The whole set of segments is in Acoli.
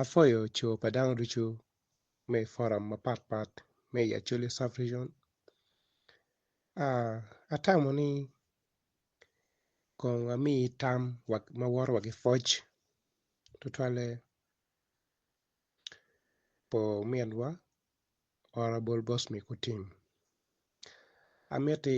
Apwoyo co pa dano ducu me i foram mapat pat me i Acholi sub region atamo ni kong ami tam wek ma woto wa ki pwoc tutwalle pa ominwa Honourable Bosmy Kutim amiti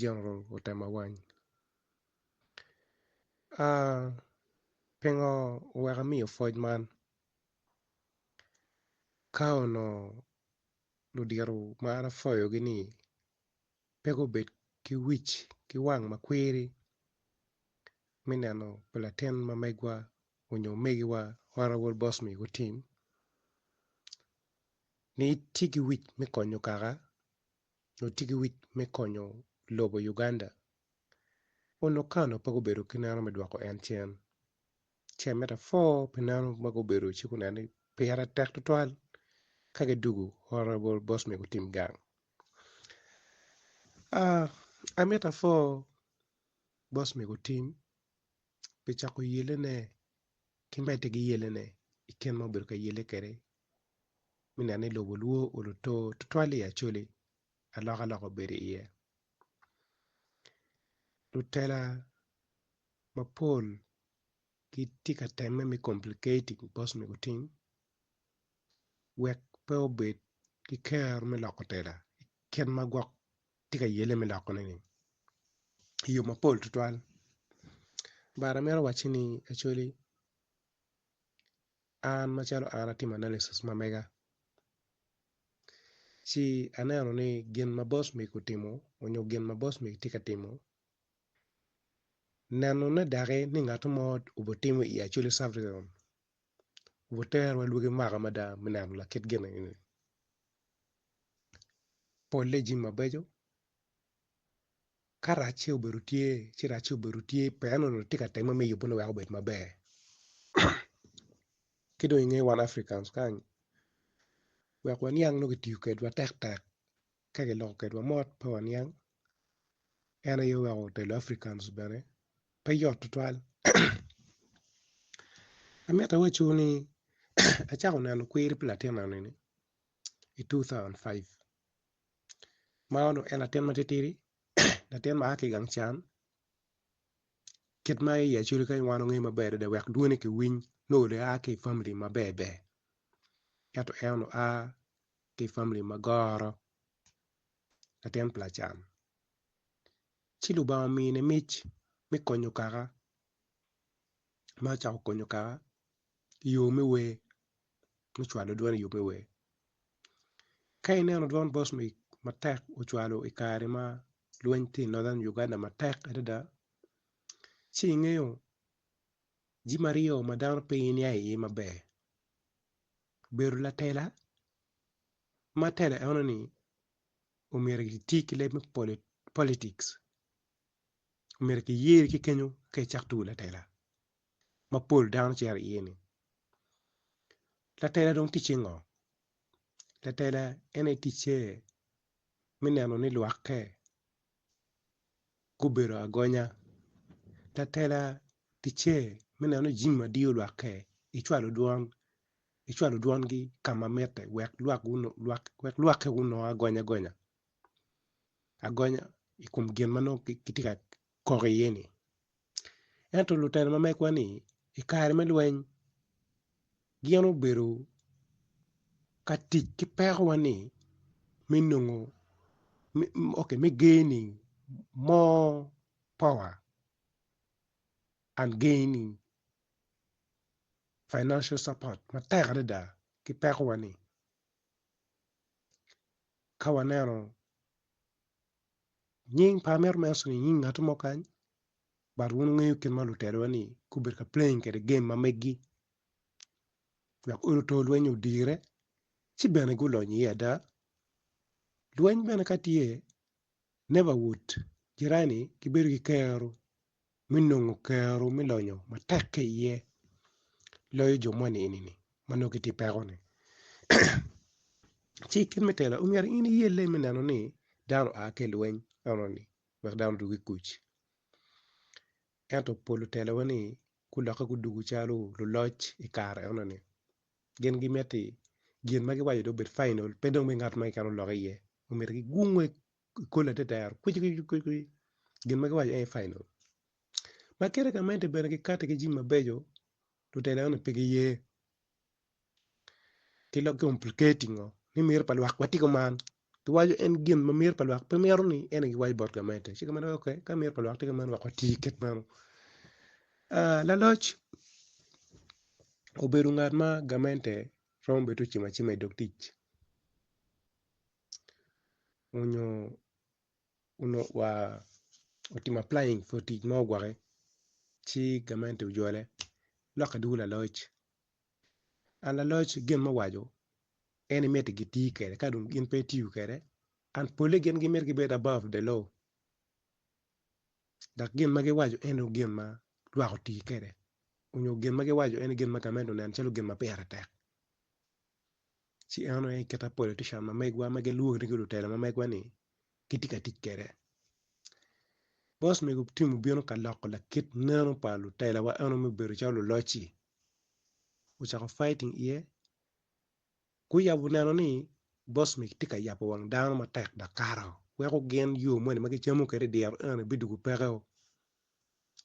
General otema wany. Aah pingo oweko amiyo pwoc man? Ka onongo ludito ma an apwoyogi ni pe gubed ki wic ki wang ma kwiri me neno pa latin ma megwa onyo omegiwa Honourable Boss Migo Otim ni itye ki wic me konyo kaka nyo tye ki wic me konyo lobo Uganda, onongo Kano pe gubedo ki neno me dwoko en cen. Ce me apor pi neno ma gubedo ci guneno ni pire tek twatwal ka gidwogo Honourable Bosnia gutim gang. Amito apor Bosnia gutim pi cako yelene ki medo ki yelene i kit ma obedo ka yele kwede me neno ni lobo lwo oluto tutwal i Acholi alokaloka obedo iye lutela mapol gitye ka temme me complicating bicos me gutim wek pe obed ki kero me loko tela i kit ma gwok tye ka yelle me lokone-ni i yo mapol tutwal but amito wacci ni Acholi An macalo an atimo analysis ma mega, ci aneno ni gin ma Bosmik otimo onyo gin ma Bosmik tye ka timo, nenone daki ni ngato mo obitimo i Acholi Sub-region obiterowa lwagi mwaka mada me neno lakit gin eni. Polle jami mabeco Ka racce obedo tye ci racce obedo tye pien onongo itye ka temme me yubone wek obed maber ki dong inge wan Africans kany wek waniang nongo kitiyo kwedwa tektek ka kiloko kwedwa mot pe waniang en aye oweko telo Africans bene pe yot tutwal amitti awacu ni acako neno kwiri pi latinna ni i two thousand and five. man onongo en latin matitidi latin ma a ki i gang can kit ma iye calo kany wan wangeyo maber adada wek dwone kiwiny nongo onongo en a ki i famili maber ber ento en onongo a ki i famili ma goro latin pa lacan ci lubanga omine mic me konyo kaka ma ocako konyo kaka. yo me wer me cwalo dwon i yo me wer ka ineno dwon Boswic matek ocwalo i kare ma lweny tye i Northern Uganda matek adada ci ingeyo jami aryo ma dano pe niya iye maber bedo latela ma tela eno ni omyero kiti ki leb me politics omyero kiyeri ki kenyo ka icako tugo latela. ma pol dano cito iye ni. Latela dong ticce ngo? Latela en aye ticce me neno ni lwakke gubedo agonya, latela ticce me neno ni jami madiyo lwakke icwalo dwon icwalo dwongi ka ma mitte wek lwak wek lwakke gunong agonya gonya agonya i kom gin ma nongo kitye ka kok iye ni. Ento lutino ma megwa-ni i kare me lweny gin obedo ka tic ki pekowa-ni me nongo ok me geni more power and gaining financial support matek adada ki pekowa-ni ka waneno nying pa amito me waco ni nying ngat mo kany but wun wungeyo kit ma lutelo wa ni gubedo ka playing kwede game ma megi wek olo to lweny odire ci bene gulony iye ada, lweny bene ka tye neighbourhood jirani gibedo ki kero. me nongo kero me lonyo matek ki iye loyo jo moni enini ma nongo gitye ki peko ni ci kit me telo omyero in iyelle me neno ni dano oa ki ilweny enoni wek dano odwogo ki kuc ento pol otelo wa ni gulokke gudwogo calo luloc i kare enoni gin gimiti gin ma giwaco dong obed final pe dong me ngat ma keken olok iye omyero gigunge i koli atetero kwici kwici kwici kwici gin ma giwaco en aye final ma kite gamente bene gikati ki jami mabeco lutela eni pe giye ki lok complicating oo ni miti pa lwak watiko man giwaco en gin ma miti pa lwak pe mito ni en aye giwaco bot gamente ci gamente ok ka miti pa lwak tye kamano wek wati kit meno laloc obedo ngat ma gamente romo bene ti ocimo acima idog tic onyo onongo wa otimo applying pi tic mo gwokke ci gamente ojole lokke dwogo laloc and laloc gin ma owaco en imit gi tii kwede ka dong gin pe gitiyo kwede and pole gin gimito gibed above the law dok gin ma giwaco en aye gin ma lwak otii kwede onyo gin ma giwaco en aye gin ma gamente oneno calo gin ma pire tek ci en aye kite politician ma megwa ma gilwongo nying lutelo ma megwa ni gitye ka tic kwede bos mego Tim obino ka loko lakit neno pa lutela wa eno ma obedo calo luloc ci ocako fighting iye guyabo neno ni bos mego tye ka yabo wang dano matek dok kato weko gin yo moni ma gicamo kwede i dyere eno bidwogo peke o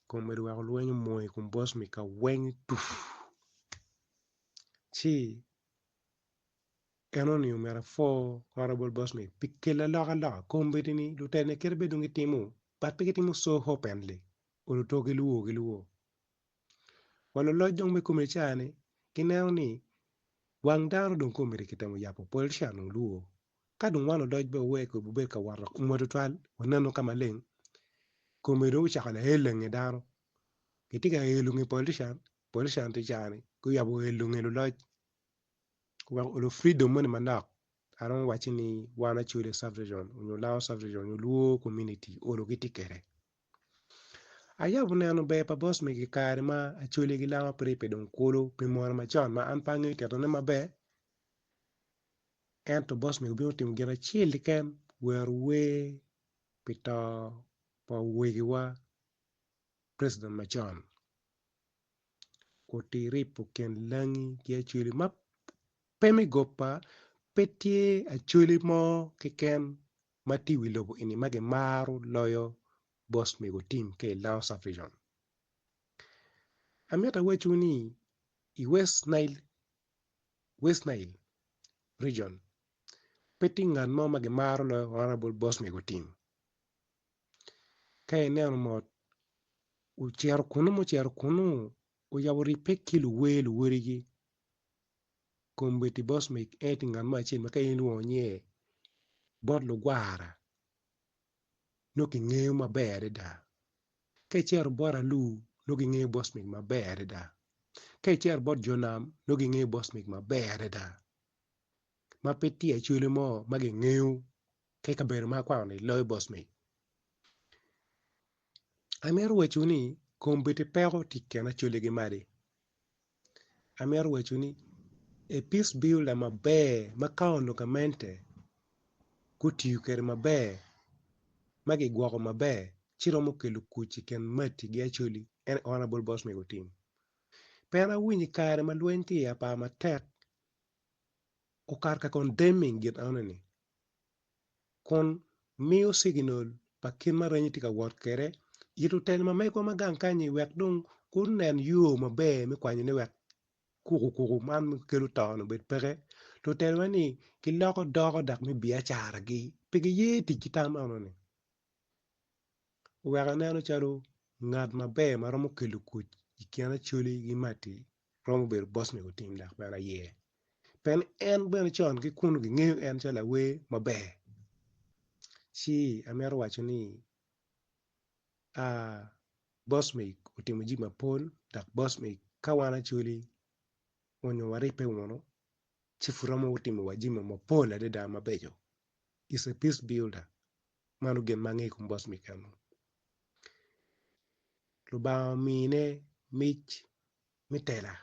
kun medo weko lweny omwony i kom bos mego kaweng tufu ci Enoni omyero apwor honorable boss ni pi kelo aloka loka i kom miti ni lutela ni kit ma dong gitimo but pe gitimo so openly kun oto gi luwo gi luwo. Wa luloc dong me komi ca ni gineno ni wang dano dong kong omyero ki temo yabo politician dong luwo ka dong wan luloc be owe ko bubed ka wot kom wa tutwal wanenu ka maleng komi dong ocako lael lange dano kitye ka elo nge politician Bot Shan tye caa ni guyabo wel lunge luloc wek olu freedom moni manok I don't wacci ni wan Acholi Sub region nyo Lango Sub region nyo Luo community olu gitye kwede ayabo neno ber pa boss megi I kare ma Acholi ki Lango pe ribbe dong kulu pi mwono macon ma an pe angeyo titone maber ento boss mego obino otimo gin acel keken wero wer pi to pa wegiwa president macon. Oti ripo kin langi ki acholi ma pe me goba pe tye acholi mo keken ma tye i wi lobo eni ma kimaro loyo boss mego tim ka i lounge subdivision amito awacciwu ni i west nile region pe tye ngat mo ma kimaro loyo honorable boss mego tim. Ka ineno mot ocito kunu ma ocito kunu oyabo ribbe ki luwer luwadigi kombeddi boss man en aye ngat acel ma ka in ilwongo nge bot lugwara nongo kingeyo maber adada ka icito bot alur nongo kingeyo boss man maber adada ka icito bot jo nam nongo kingeyo boss man maber adada ma pe tye acholi mo ma kingeyo ki kabedo ma akwano ni loyo boss me. Amito waco ni kombeddi peko tye i kin Acholi ki Madi amito waco ni a peace builder maber ma county onongo gamente gutiyo kwede maber ma kigwoko maber ci romo kelo kuc i kin Madi ki Acholi en aye honourable boss me otim pien an awinyo i kare ma lweny tye iye apar matek okato ka condemning gin enoni. kun miyo ciginol pa kit ma reny-nyi tye ka wot kwede i lutelo ma megwa ma gang kany-nyi wek dong gunen yo maber me kwanyone wek kukukuku man ma kelo to-ni obed peke. Lutelone-ni giloko doko dok me biacaragi pe giye tic ki tam enoni oweko aneno calo ngat maber ma romo kelo kuc i kin Acholi ki Matti. romo bedo boss me gutim dok bene aye pien en bene con ki kunu gingeyo en calo awer maber ci amito waco ni boss me otimo jami mapol dok boss me ka wan Acholi onyo waribbe wunu ci pud romo timo wa jami mapol adada mabeco is a peace builder. Mano gin ma angeyo i kom boss Mikel-lu. Lubanga omine mic me tela,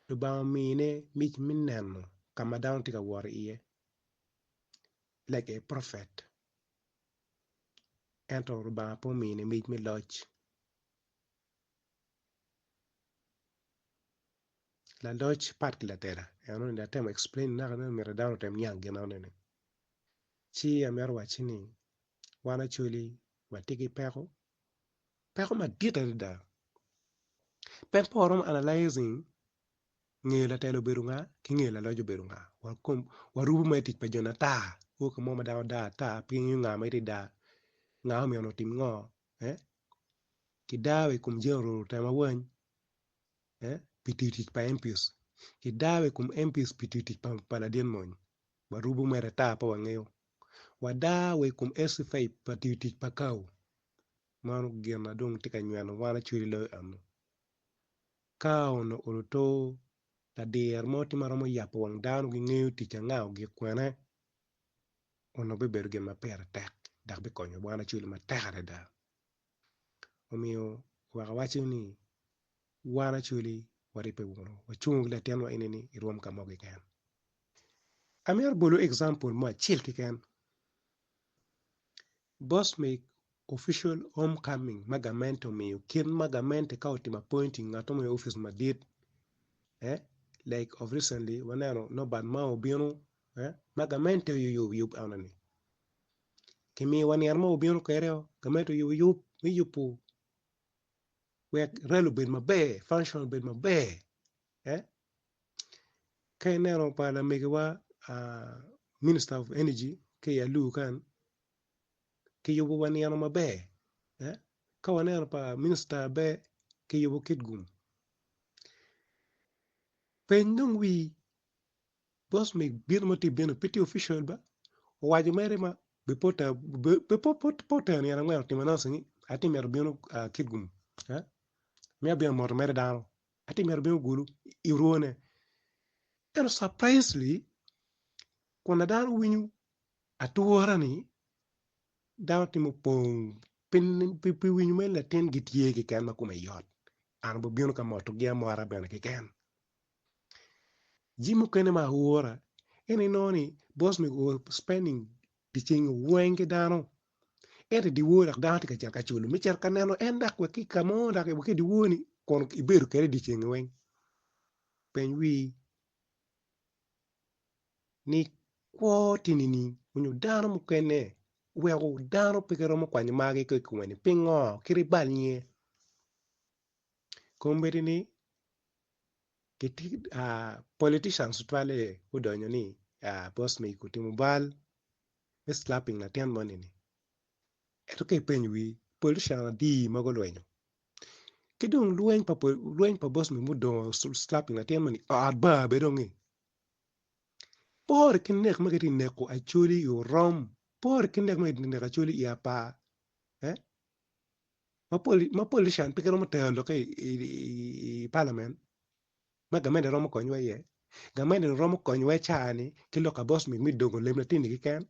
Lubanga omine mic me neno ka ma dano tye ka wot iye like a prophet ento Lubanga pe omine mic me loc. Laloc pat ki latela, eno ni atemo explain-ni anaka nongo myero dano otem niang gin enoni. Ci amito wacci ni wan Acholi watye ki peko, peko madit adada. Pek pa waromo analyzing nge latel obedo nga ki nge laloc obedo nga. Warubo ma i tic pa joni ata koo ka mo ma dano dar ata pe ingeyo nga ma itye ka dar, nga ma omyero otim ngo eeh kidar wa i kom General otemo awany eeh pi tiyo tic pa MP kidar wa i kom MP pi tiyo tic pa ladit mony. Warubo mere ata pe wangeyo. Wada wa i kom Esy Faith pa tiyo tic pa kawo. Mano gin ma dong tye ka nyweno wan acwele loyo eno. Ka onongo oluto ladir mo tye ma romo yabo wang dano gingeyo tic anga ogik kwene, onongo bibedo gin ma pire tek dok bikonyo wan acwele matek adada. omiyo wek awac ni wan Acholi waribbe wunu wacung ki latinwa eni ni irwom ka mo keken. Amito bolu example mo acel keken boss me official home coming ma gamente omiyo kit ma gamente ka otimo appointing ngat mo i office madit eh like of recently waneno Norbert Mao obino eh ma gamente oyub yub eno ni kimiyo wa nino ma wabino kwede o gamente oyub me yubo wek rali obed maber function obed maber ka ineno pa lamegiwa minister of energy ki i alur kany kiyubo wa nino maber ka waneno pa minista be kiyubo kitgum peny dong wii Boss me bino ma tye bino pe tye official ba owaco mere ma be po ta be po po po tera nyen angwen otimo announcing ni atye mito bino ah kidgum eh me abino moto mere dano atye mito bino gulu i orwone ento surprisely kun ada dano winyo ature ni dano tye mupong pi pi pi winyo mere latin gitye keken ma kome yot an obibino ka motogi amota bene keken. Jami mukene ma aura en aye inongo ni boss mego ouro spending dye ceng weng ki dano ento i dye wor dok dano tye ka cito ka culu me cito ka neno en dok wek ki i ka mo dok wek ki i dye wor ni kun ibedo kwede dye ceng-ngi weng peny wii ni kwo tye nining nyo dano mukene oweko dano pe giromo kwanyo margi ki i kome-ni pingo kit ibal nge? Kombeddi ni Politicians tutwalle gudonyo ni boss me iko otimo bal me slapping latin moni ni ento ka ipenyo wi politician adi ma gulwenyo ki dong lweny pa boss me mudongo slapping latin moni ot bar bene onge pore ki nek ma kitye ka neko Acholi i orom pore ki nek ma kitye ka neko Acholi i apar. ma politician pe giromo tero lok ki i parliament ma gamente romo konyowa iye, gamente ni romo konyowa i caa ni ki lok kabos mit me dongo leb latinni keken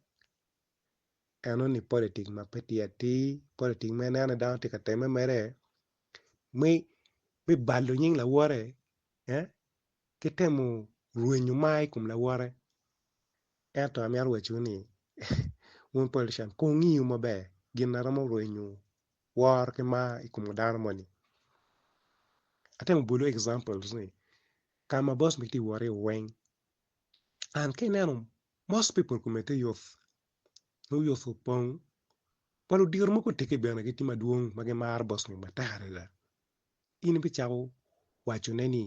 eno ni politic ma pe tye atir politic ma ineno ni dano tye ka temme mere me balo nying lawote ki temo rwenyo mar i kom lawote. Ento amito wacciwu ni, wun politician, kungiu maber gin a romo rwenyu woro ki mar i kom dano moni. Atemo bolu examples ni ka ma boss mitye wot iye weng, and ka ineno most people kome tye yot, nongo yot opong. Wa ludito mogo otegi bene gitye madwong ma gimaro boss ni matek adada. In ibicako wacone ni,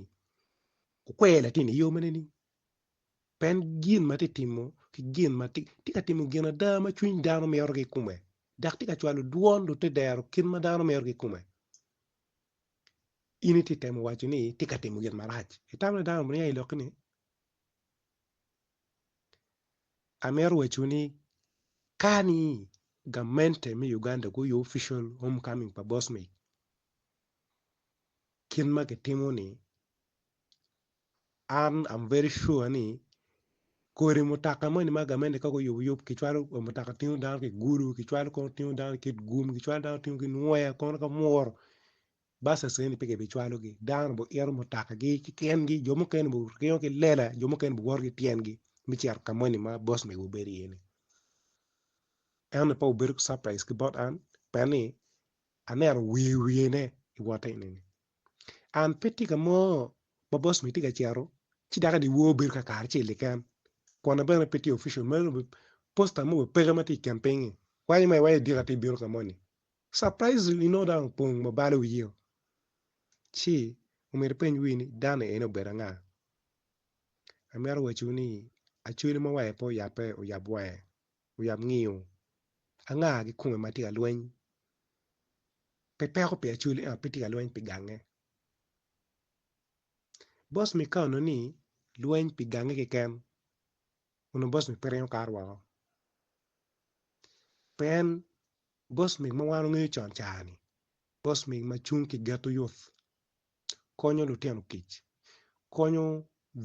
okwer latin i yo mene ni? Pien gin ma tye ka timo ki gin ma tye ka timo gin ada ma cwiny dano mito ki i kome dok tye ka cwalo dwon dok tye ka dero kit ma dano mito ki i kome. In itye ka temo waco ni tye ka timo gin marac, itamo ni dano mito niang i lokki ni? Amito waco ni ka ni gamente me Uganda guoyo official home coming pa Bosmith, kit ma gitimo ni an am very sure ni kodi mutoka moni ma gamente ka guyubo yub kicwalo mutoka tingo dano ki gulu kicwalo kono tingo dano ki gum kicwalo dano tingo ki nwoya kono ka mwuro buses eni pe kibicwalogi dano biito mutokagi ki tyengi jo mukene biringo ki lela jo mukene biwoto ki tyengi me cito ka moni ma bos mego bedo iye-ni ento pe obedo ki caprice ki bot an pien ni aneno wiye wiyene iwotte eni. An pe tye ka mo ma boss onongo tye ka cito ci dok eni wor bedo ka karacel keken kwone bene pe tye official mere dong obedo posta mo bene peke ma tye i kin piny ni weko iwanyo iwanyo idika ti ibino ka moni surprisingly inongo dong opong ma balo wiyeo ci omyero ipeny wii ni dano eni obedo anga amito waco ni acholi ma wange pe oyape oyab wange. Oyab ngiyo, Anga kikome ma tye ka lweny? Pe peko pi acwali ento pe tye ka lweny pi gange. Bos mi kono ni lweny pi gange keken onongo bos mi pe ringo kato woko. Pien bos mi ma wan wangeyo con car ni bos mi ma cung ki geto yot. konyo lutino kic konyo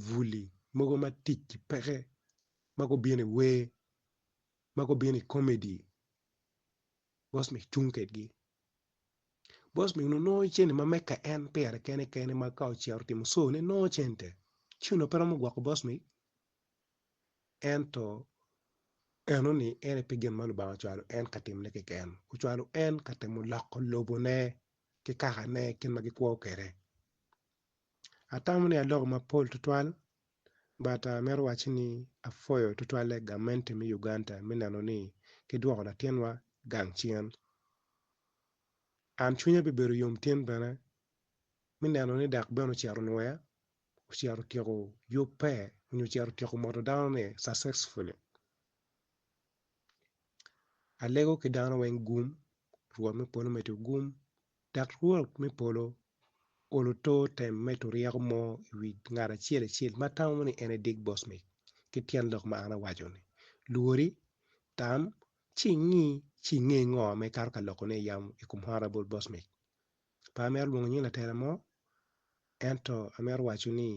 bwuli mogo ma ticgi peke ma gubino i wer ma gubino i komedi bos ma icung kwedgi bos ma onongo nongo cente ma mege en pire kene kene ma ka ocito otimo co ne nongo cente ci onongo pe romo gwoko bos ni ento enoni en aye pe gin ma Lubanga ocwalo en ka timone keken ocwalo en ka temo loko lobone ki kakane i kit ma gikwo kwede. Atamo ni aloko mapol tutwal but amito wacci ni apwoyo tutwalle gamente me Uganda me neno ni gidwoko latinwa gang cen. An cwinya bibedo yom tin bene me neno ni dak bene ocito nwoya, ocito otyeko yubbe nyo ocito otyeko moto danone successfully. Alego ki dano weng gum Rwot me polo omedde ogum, dok Rwot me polo olo to tem me turyeko mo i wi ngat acel acel ma tamo ni en aye Dick Bosmic ki tyen lok ma an awaco-ni. Lwori, tam, ci ingi ci inge ngo ma ikato ka lokone i yamo i kom Honourable Bosmic. Pe amito lwongo nying latela mo, ento amito waco ni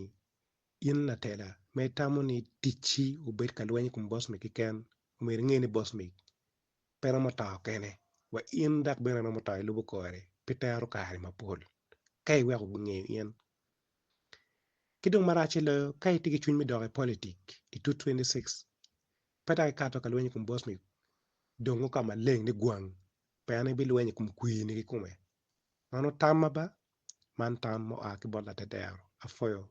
in latela ma itamo ni ticci obed ka lweny i kom Bosmic keken, omyero inge ni Bosmic pe romo to kene, wa in dok bene iromo to ilubo kore pi tero kare mapol ka iweko gunge in. Ki dong maracce loyo, ka itye ki cwiny me dok i politik i 2026, pe dok ikato ka lweny i kom Bosnic, dongo ka maleng ni gwang, pien ibilweny i kom kwiri-ni kikome. Mano tamma ba? Man tam ma oa ki bot Laterdero, apwoyo,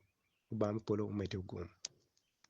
Lubanga me polo omeddi ogum.